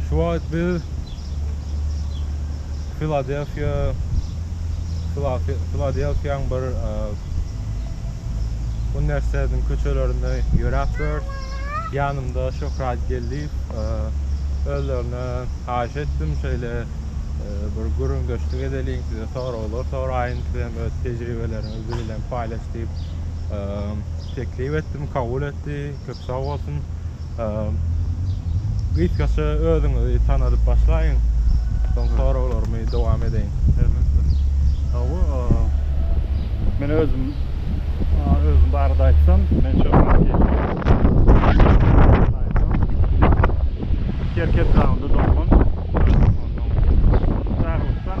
Şu wagt biz Filadelfiýa, Filadelfiýaň bir uniwersitetiniň köçelerinde ýöräpdiris. Ýanymda Şöhrat Geldiýew. Özlerine haýyş etdim, şeýle bir gürrüňdeşlik edeliň, size soraglar soraýyn, siz hem öz tejribeleriňizi biz bilen paýlaş diýip teklip etdim, kabul etdi. Köp sag bolsun. Gysgaça özüňizi tanadyp başlaýyň. Soň soraglarymy dowam edeýin. Elbetde. Hawa, men özüm özüm barada aýtsam, men Çorbatkeşiň Kerki etrabynda doglan. Çaglykdan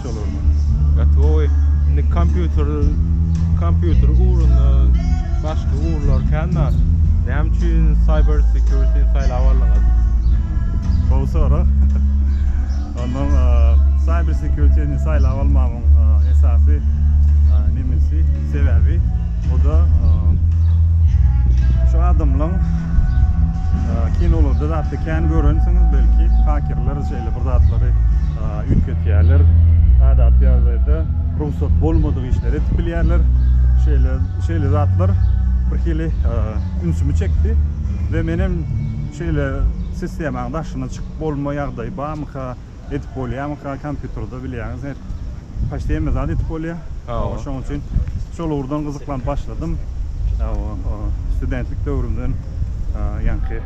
funksiýalaryna. Gotowy. Indi kompýuter, kompýuter ugrunda başga ugurlar kän bar. Näme üçin Cyber Security-ni saýlap aldyňyz? Gowy sorag. Onda Cyber Security-ni saýlap almamyň esasy nemesi, sebäbi, o-da şu adamlaryň kinolarda zatda kän görensiňiz belki, hakerler şeýle bir zatlary üýtgetýärler. Adaty ýagdaýda rugsat bolmadyk işleri edip bilýärler. Şeýle şeýle zatlar birhili ünsümi çekdi we men hem şeýle sistemaň daşyna çykyp bolma ýagdaýy barmyka, edip bolýarmyka kompýuterde bilýäňiz. Paçta hemme zat edip bolýar. Hawa. Şonuň üçin şol ugurdan gyzyklanyp başladym. Hawa, studentlik döwrümden ýaňky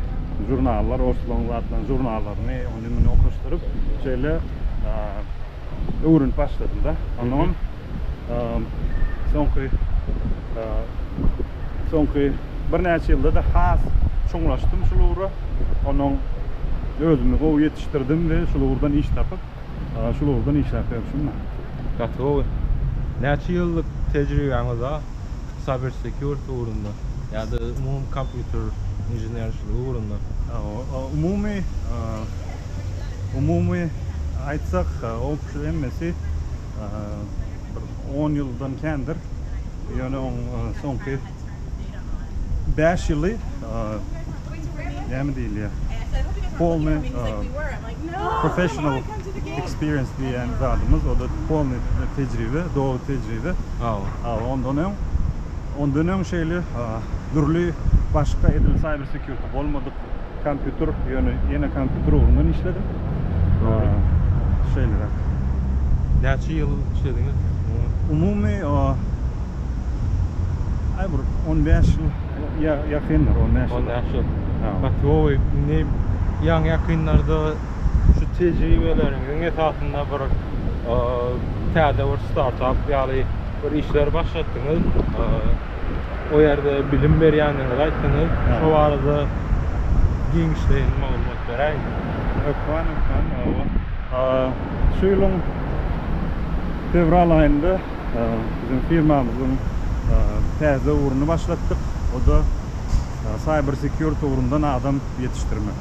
žurnallar, orslaryň zatlaryny, žurnallaryny, ony-muny okaşdyryp, şeýle öwrenip başladym-da. Ondan soňky soňky birnäçe ýylda-da has çuňlaşdym şul ugra. Ondan özümi gowy ýetişdirdim we şul ugurdan iş tapyp, Aga şul ugurda ne işläp ýörşüňmi? Gaty gowy. Näçe ýyllyk tejribäňiz bar cyber security ugrunda ýa-da umumy kompýuter inženerçiligi ugrunda? Umumy, umumy aýtsak opşy hemmesi bir on ýyldan kändir. Ýöne oň soňky bäş ýyly näme diýilýär polny. Professional experience diýýän zadymyz, o-da polnyý tejribe, doly tejribe. Hawa. Ondan öň, ondan öň şeýle dürli başga edil cyber security bolmadyk kompýuter, ýöne ýene kompýuter ugrundan işledim. Şeýleräk. Näçe ýyl işlediňiz? Umumy, aý bir on bäş ýyl Ýa ýakyndyr on bäş ýyl. On bäş ýyl. Hawa. Gaty gowy. Indi ýaňy ýakynlarda şu tejribeleriňiziň esasynda bir täze bir startap ýaly bir işleri başlatdyňyz. O ýerde bilim berýändigiňizi aýtdyňyz. Şo barada giňişleýin maglumat beräýiňiz. Hökman, hökman. Şu ýylyň fewral aýynda Biziň firmamyzyň täze ugruny başlatdyk. O-da Cyber Security ugrundan adam ýetişdirmek.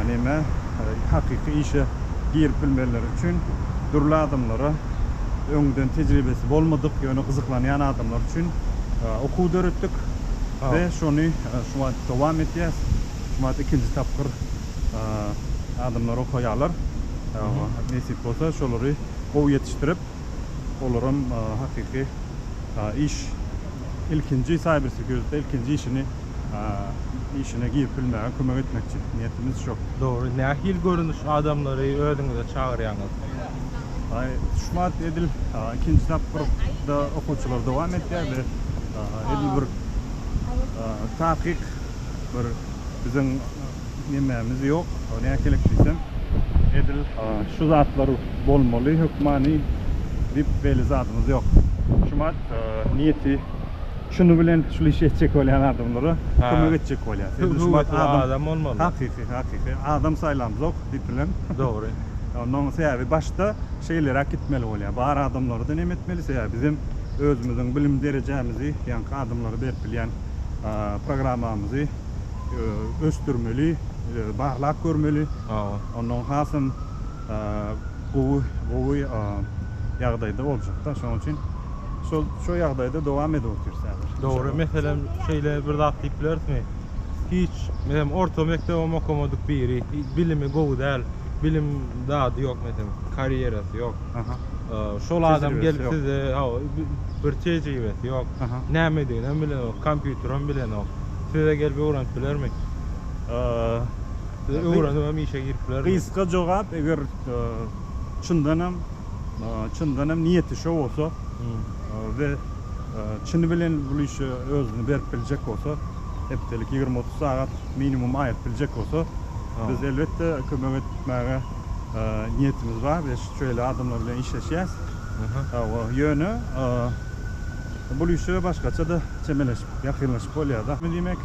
Näme, hakyky işe girip bilmeleri üçin dürli adamlara, öňden tejribesi bolmadyk, ýöne gyzyklanýan adamlar üçin okuw döretdik we şony şu wagt dowam etýäs. Şu wagt ikinji tapgyr adamlar okaýarlar. Nesip bolsa, şolary gowy ýetişdirip. olaram hakyky iş ilkinji cyber security ilkinji işini işine girip bilmäge kömek etmekçi niýetimiz şo. Dogry, nähili görnüş adamlary özüňize çagyrýaňyz? Aý tutuşmady edil ikinji tapgyrda okuwçylar dowam etýär we edil bir takyk bir biziň nemämiz ýok. Näme gerek diýsem, edil şu zatlar bolmaly hökmany diýip belli zadymyz ýok. Şumat niýeti şuny bilen şul işi etjek bolýan adamlara kömek etjek bolýar. Edil şumat adam bolmaly. Hakyky, hakyky. Adam saýlamzok diýip bilen. Dogry. Onuň sebäbi başda şeýleräk gitmeli bolýar. Bar adamlarda näme etmeli? Sebäbi biz hem özümiziň bilim derejämizi ýaňky adamlara berip bilýän programmamyzy ösdürmeli, barlap görmeli. Ondan hasam gowy, gowy ýagdaýda boljak-da. Şonuň üçin şol, şo ýagdaýda dowam edip otyrys häzir. Dogry. Meselem, şeýle bir zat diýip bilerismi? Hiç, meselem, orta mekdebem okamadyk biri, bilimi gowy däl, bilim zady ýok, meselem, karýerasy ýok. Şol adam gelip size, hawa, bir tejribesi ýok, nämediginem bilenok, kompýuterem bilenok. Size gelip öwrenip bilermi? Size öwrenip hem işe girip bilermi? Gysga jogap eger çyndanam çyndanam niýeti şo bolsa we çyny bilen bul işe özüni berip biljek bolsa hepdelik ýigrimi otuz sagat minimum aýyryp biljek bolsa biz elbetde kömek etmäge niýetimiz bar biz şeýle adamlar bilen işleşýäs ýöne bul işe başgaça-da çemeleşip, ýakynlaşyp bolýar-da. Indi diýmek,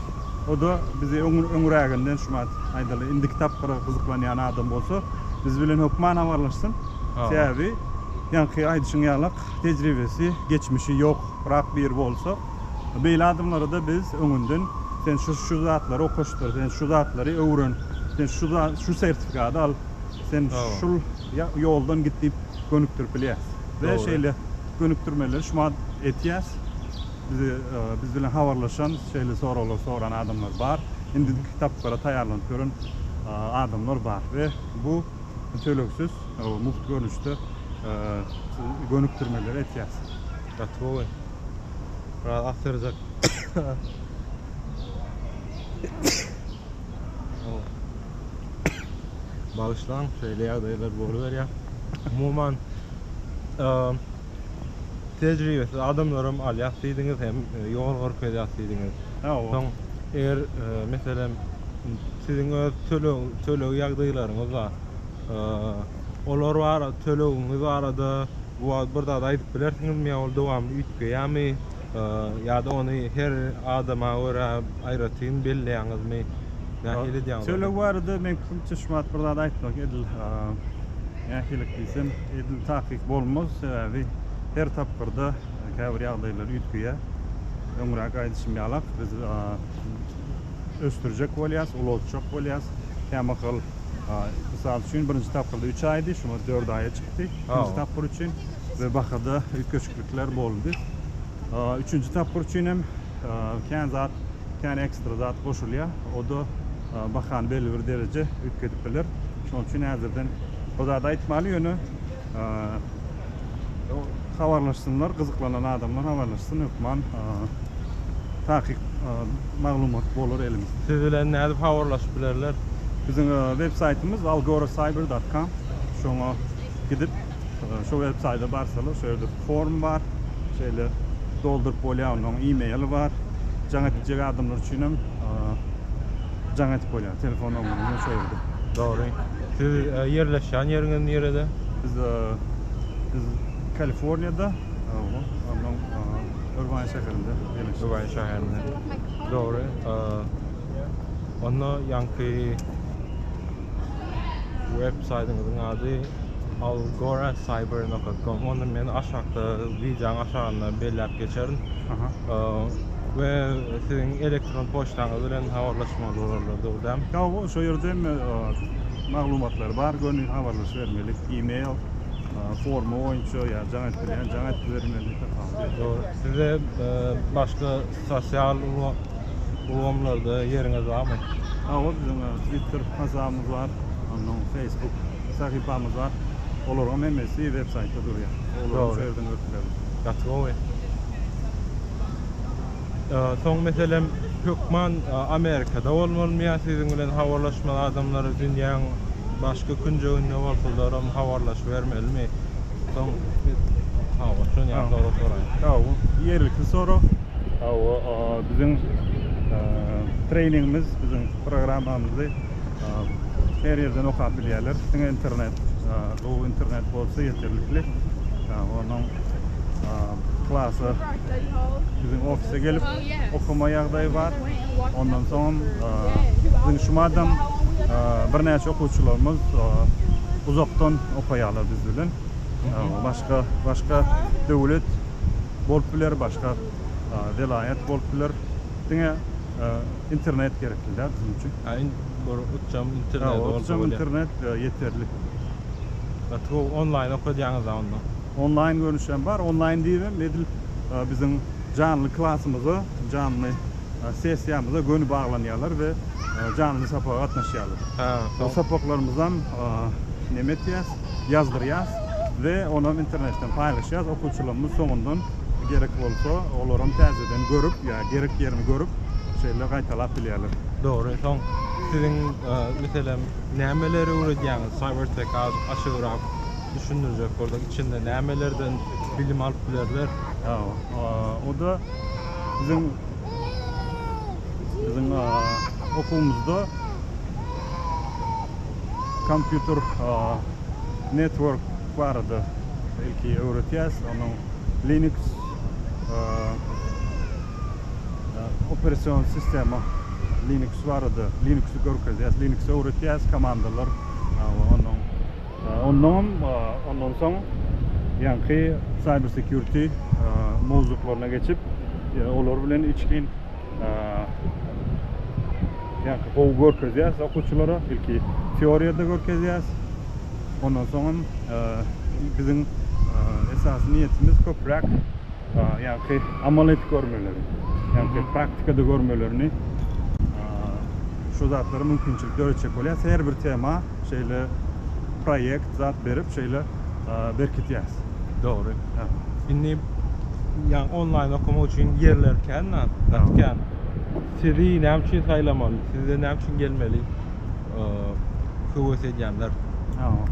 o-da bizi öňüräginden şumat, aýdaly, indiki tapgyra gyzyklanýan adam bolsa, biz bilen hökman habarlaşsyn. Sebäbi, ýaňky aýdyşyň ýalak, tejribesi, geçmişi ýok, rak biri bolsa, beýle adamlara-da biz öňünden, sen şu-şu zatlary okaşdyr, sen şu zatlary öwren, sen şu za, şu sertifikady al, sen şul ýa, ýoldan git diýip gönükdirip bilýäris. We şeýle. Gönükdirmeleri şumat etýäs. Bizi biz bilen habarlaşan, şeýle soraglar soran adamlar bar. Indiki kitaplara taýýarlanyp ýören adamlar bar we bu tölegsiz mugt görnüşde gönükdirmeleri etýäs. Gatowy. Biraz agtarjak. Bagyşlaň, şeýle ýagdaýlar boluberýär. Umuman, tejribesiz adamlaram alýas diýdiňiz hem ýol görkezýäs diýdiňiz. Soň eger meselem siziň öz töleg töleg ýagdaýlaryňyz bar. Olar bar tölegiňiz barada bu wagt bir zat aýdyp bilersiňizmi ýa ol dowamly üýtgeýärmi? Ýa-da ony her adama görä aýratyn belleýäňizmi? Nähili edýäňiz? Çöleg barada men pikrimçe şu wagt bir zat aýtmak edil nähilik diýsem edil takyk bolmaz. Sebäbi her tapgyrda käbir ýagdaýlar üýtgeýär. Öňräk aýdyşym ýalak biz ösdürjek bolýas, ulaltjak bolýas. Kämahal mysal üçin birinji tapgyrda üç aýdy, şu wagt dört aýa çykdy. Ikinji tapgyr üçin we bahada üýtgeşik. Kemçilikler boldy. Üçünji tapgyr üçin hem kän zat, kän ekstra zat goşulýar. O-da bahany belli bir dereje üýtgedip biler. Şonuň üçin häzirden bu zady aýtmaly, ýöne habarlaşsynlar, gyzyklanan adamlar habarlaşsyn, hökman takyk maglumat bolar elimizde. Siz bilen nädip habarlaşyp bilerler? Biziň web saýtymyz algoracyber dot com. Şoňa gidip, Şu web saýda barsalar şu ýerde form bar. Şeýle dolduryp bolýar. Onuň e-mail bar. Jaň edijek adamlar üçin hem jaň edip bolýar. Telefon nomeriniň hem şu ýerde. Dogry. Siz ýerleşýän ýeriňiz nirede? Biz biz Kaliforniýada. Owo. Onuň Irwaýn şäherinde ýerleşýär. Irwaýn şäherinde. Dogry. Onda ýaňky web saýdyňyzyň ady algoracyber.com. Onda men aşakda wideoň aşagynda belläp geçerin. We siziň elektron poçtaňyz bilen habarlaşmaly bolarlar, dogry dämi? Ýa, şo ýerde hem maglumatlar bar, göni habarlaşybermelik, e-mail forma boýunça ýa jaň etdirýän jaň etdirmeli. Size başga Sosial ulgamlarda ýeriňiz barmy? Hawa biziň twitter hasabymyz bar, ondan facebook sahypamyz bar. Olaryň hemmesi web saýtda durýar. Olaryň şu ýerden görüp bilerler. Gaty gowy. Soň meselem hökman Amerikada bolmalymy ýa siziň bilen habarlaşmaly adamlar dünýäň başga künjeginde bolsalaram habarlaşybermelimi? Soň biz sag bol. Şuny ýaly sorag soraýyn. Sag bol. Ýerlikli sorag. Hawa, biziň treýningimiz, biziň programmamyzy her ýerden okap bilýärler. Diňe internet, gowy internet bolsa ýeterlikli. Onuň klasy biziň ofise gelip. okama ýagdaýy bar. Ondan soňam biziň şu madam birnäçe okuwçylarymyz uzakdan okaýarlar biz bilen. Başga başga döwlet bolup biler, başga welaýat bolup biler. Diňe internet gerekli däl biziň üçin. Ýa uçjam internet bolsa bolýar. Uçjam internet ýeterlik. Gaty gowy onlaýn okadýaňyz-a onda. Onlaýn görnüşi hem bar. Onlaýn diýip hem edil biziň janly klasymyza, janly sessiýamyza göni baglanýarlar we janly sapaga gatnaşýarlar. Bu sapaklarymyzam näme etýäs, ýazdyrýas we onam internetden paýlaşýas. Okuwçylarymyz soňundan gerek bolsa, olaram täzeden görüp ýa gerek ýerini görüp, şeýle gaýtalap bilýärler. Dogry. Soň siziň, meselem, nämeleri öwredýäňiz? Cyber Tech-i aşygrak. düşündirjek bolsak, içinde nämelerden bilim alyp bilerler? O-da biziň biziň okuwymyzda kompýuter network barada ilki öwretýäs. Onuň Linux operasion sistema Linux barada Linux-y görkezýäs, Linux öwretýäs, komandalar, onuň Onnoňam ondan soň ýaňky Cyber Security mowzuklaryna geçip, olar bilen içgin ýaňky gowy görkezýäs okuwçylara. Ilki teoriýada görkezýäs. Ondan soňam biziň esasy niýetimiz köpräk ýaňky amal edip görmeleri. Ýaňky praktikada görmelerini şu zatlara mümkinçilik döretjek bolýas. Her bir tema şeýle proýekt zat berip şeýle berkitýäs. Dogry. Indi ýagny onlaýn okamak üçin ýerler kän da, gaty kän. Sizi näme üçin saýlamaly? Size näme üçin gelmeli höwes edýänler? Hawa.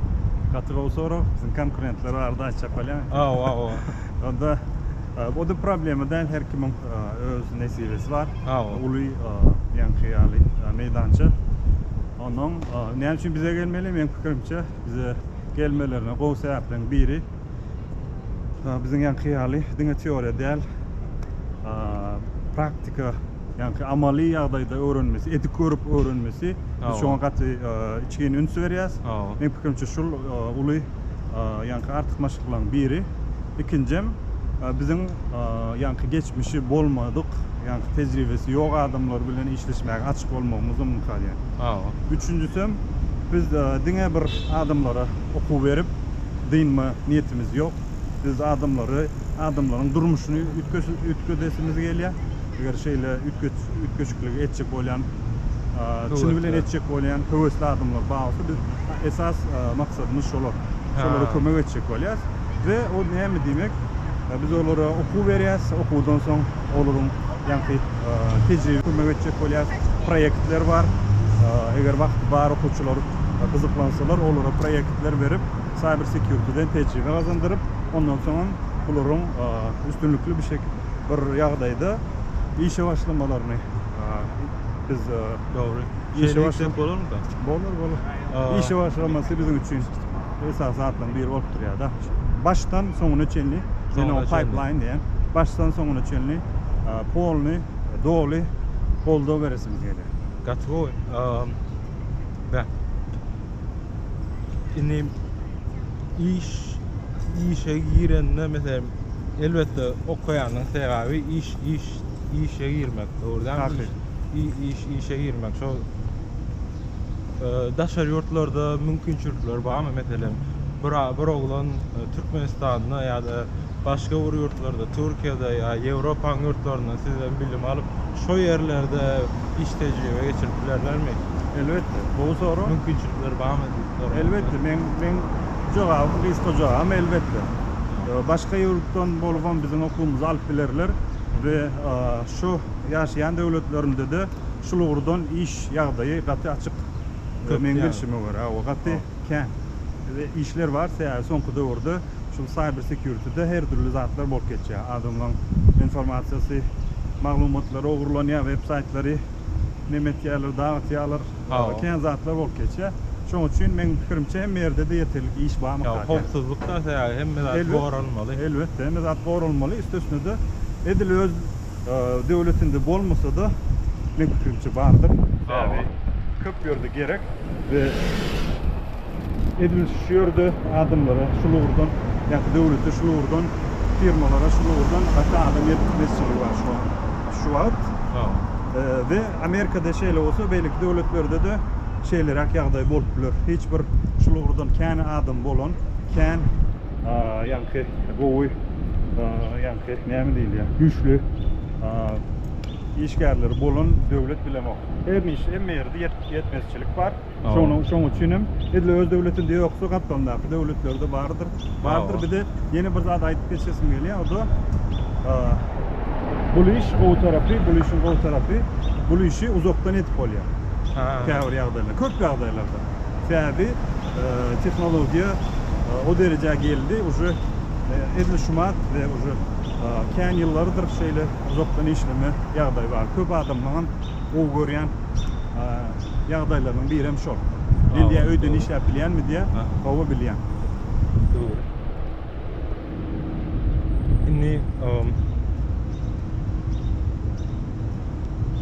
Gaty gowy sorag. Biziň konkurentler barada aýtjak bolýaňmy? Hawa, hawa. Onda o-da problema däl, her kimiň öz nesibesi bar. Hawa. Uly ýaňky ýaly meýdança. Onnoň näme üçin bize gelmeli? Meň pikirimçe, bize gelmelerine gowy sebäpleriň biri, biziň ýaňky ýaly diňe teoriýa däl, praktika, ýaňky amaly ýagdaýda öwrenmesi, edip görüp öwrenmesi, biz şoňa gaty içgin üns berýäs. Meň pikirimçe, şul uly. ýaňky artykmaçlyklaryň biri. Ikinjem, biziň ýaňky geçmişi bolmadyk, ýaňky tejribesi ýok adamlar bilen işleşmäge açyk bolmagymyzam mümkin ýaly. Üçünjisem, biz diňe bir adamlara okuw berip, dynma niýetimiz ýok. Biz adamlary, adamlaryň durmuşyny üýtgedesimiz gelýär. Eger şeýle üýtgeşikligi etjek bolýan, çyny bilen etjek bolýan höwesli adamlar bar bolsa, biz esas maksadymyz şolar. Şolara kömek etjek bolýarys we o näme diýmek, biz olara okuw berýäris, okuwdan soň olaryň ýaňky tejribe kömek etjek bolýarys. Proýektler bar. Eger wagty bar okuwçylar gyzyklansalar, olara proýektler berip, Cyber Security-den tejribe gazandyryp, ondan soňam bularyň üstünlikli bir ýagdaýda işe başlamalaryny biz dogry işe başlap bolarmyka? Bolar, bolar. Işe başlamasy biziň üçin esasy zatlaryň biri bolup durýar-da. Başdan soňuna çenli, men oňa pipeline diýýän, başdan soňuna çenli polny, doly goldaw beresimiz gelýär. Gaty gowy. Bä. Indi iş, işe girende, meselem, Elbetde okaýanyň segaby iş iş işe girmek dogry däl mi iş iş işe girmek şo daşary ýurtlarda mümkinçilikler barmy meselem bir bir oglan e, Türkmenistanda ýa-da başga bir ýurtlarda, Türkiýede ýa Ýewropanyň ýurtlarynda sizden bilim alyp, şo ýerlerde iş tejribe geçirip bilerlermi? Elbetde. Gowy sorag. Mümkinçilikler barmy? Dogry. Elbetde meň meň jogabym gysga jogabym elbetde. Başga ýurtdan bolubam biziň okuwymyzy alyp bilerler we şu ýaşaýan döwletlerinde-de şul ugurdan iş ýagdaýy gaty açyk. Köp meň bilşime görä hawa gaty kän işler bar sebäbi soňky döwürde şul cyber security-de her dürli zatlar bolup geçýär. Adamlaň informasiýasy, maglumatlary ogurlanýar, web saýtlary nemetýärler, dagtýarlar. Aga kän zatlar bolup geçýär. Şoň üçin meň pikirimçe hemme ýerde-de ýeterlik iş barmyka kän. Howpsuzlykda ata ýaly hemme zat goralmaly. Elbetde hemme zat goralmaly. Üstesine-de edil öz döwletinde bolmasa-da meň pikirimçe bardyr. Sebäbi köp ýerde gerek we edil şu ýerde adamlara şul ugurdan ýa-da döwlete şul ugurdan, firmalara şul ugurdan gaty adam ýetmezçiligi bar şu wagt we Amerikada şeýle bolsa beýleki döwletlerdede şeýleräk ýagdaý bolup biler. Hiç bir şul ugurdan kän adam bolan kän. Ýaňky gowy ýaňky näme diýilýär güýçli işgärleri bolan döwlet bilemok. Her niçe hemme ýerde ýetmezçilik bar. Şonuň şoň üçin hem edil öz döwletinde ýoksa gapdalyndaky döwletlerde bardyr. Bardyr bir de ýene bir zat aýdyp geçesim gelýär. O da bu iş gowy tarapy, bu işiň gowy tarapy, bu işi uzakdan edip bolýar. Käbir ýagdaýlar, köp ýagdaýlarda. Sebäbi tehnologiýa o derejä geldi, uje edil şu mat we uje kän ýyllardyr şeýle uzakdan işleme ýagdaýy bar. Köp adamlaryň gowy görýän ýagdaýlarynyň biri hem şol. Men diýýän öýden işläp bilýänmi diýýän. Hawa bilýän. Dogry. Indi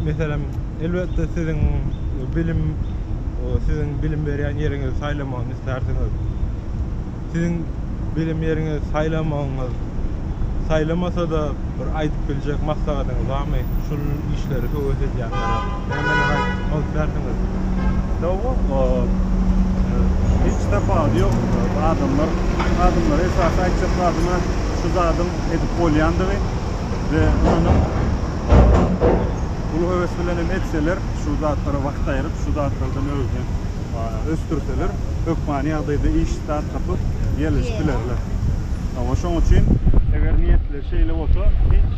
meselem elbetde siziň bilim siziň bilim berýän ýeriňizi saýlamagyny islärsiňiz. Siziň bilim ýeriňizi saýlamagyňyz, saýlamasa-da bir aýdyp biljek maslahatyňyz barmy? Şul işleri höwes edýänlere nämeler aýtmak islärsiňiz? Dogry, hiç tapawudy ýok. Adamlar, adamlara esasy aýtjak zadyma şu zadyň edip bolýandygy we ynanyp, uly höwes bilen hem etseler, şu zatlara wagt aýryp, şu zatlardan özüni ösdürseler, hökmany ýagdaýda iş start tapyp, ýerleşip bilerler. Hawa, şoň üçin. Eger niýetleri şeýle bolsa, hiç,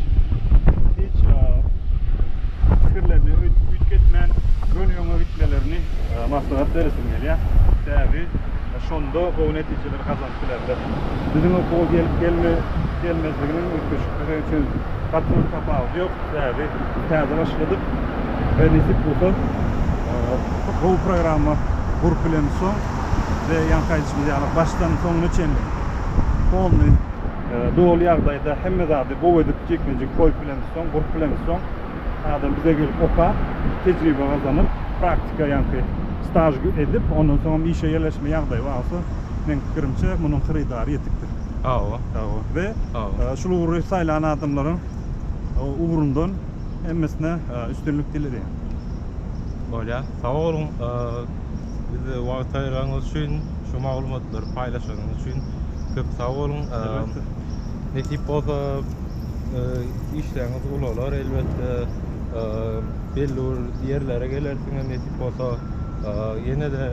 hiç pikirlerini üýtgetmän, göni öňe gitmelerini maslahat beresim gelýär. Sebäbi şonda gowy netijeleri gazanyp bilerler. Biziň okuwa gelip gelmezliginiň üýtgeşiklige üçin gaty bir tapawudy ýok. Sebäbi. Täze başladyk. Berisik bolsa gowy programma gurup bilen soň we ýaňky aýdyşymyz ýaly başdan soňuna çenli polny doly ýagdaýda hemme zady gowy edip jikme-jik goýup bilen soň gurup bilen soň adam bize gelip okap tejribe gazanyp praktika ýaňky staž edip ondan soňam işe ýerleşme ýagdaýy bar bolsa meň pikirimçe munuň hyrydary ýetikdir. Hawa. Hawa we şul ugry saýlan adamlaryň ugrundan hemmesine üstünlik dileýän. Bolýar. Sag boluň. Bize wagt aýyranyňyz üçin, şu maglumatlary paýlaşanyňyz üçin köp sag boluň. Nesip bolsa işleriňiz ulalar elbetde. Belli bir ýerlere gelersiňiz nesip bolsa. Ýene-de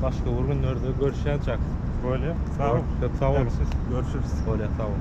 başga bir günlerde görüşýänçäk. Bolýar. Sag bol. Köp sag boluň. Görüşürüs. Bolýar. Sag boluň.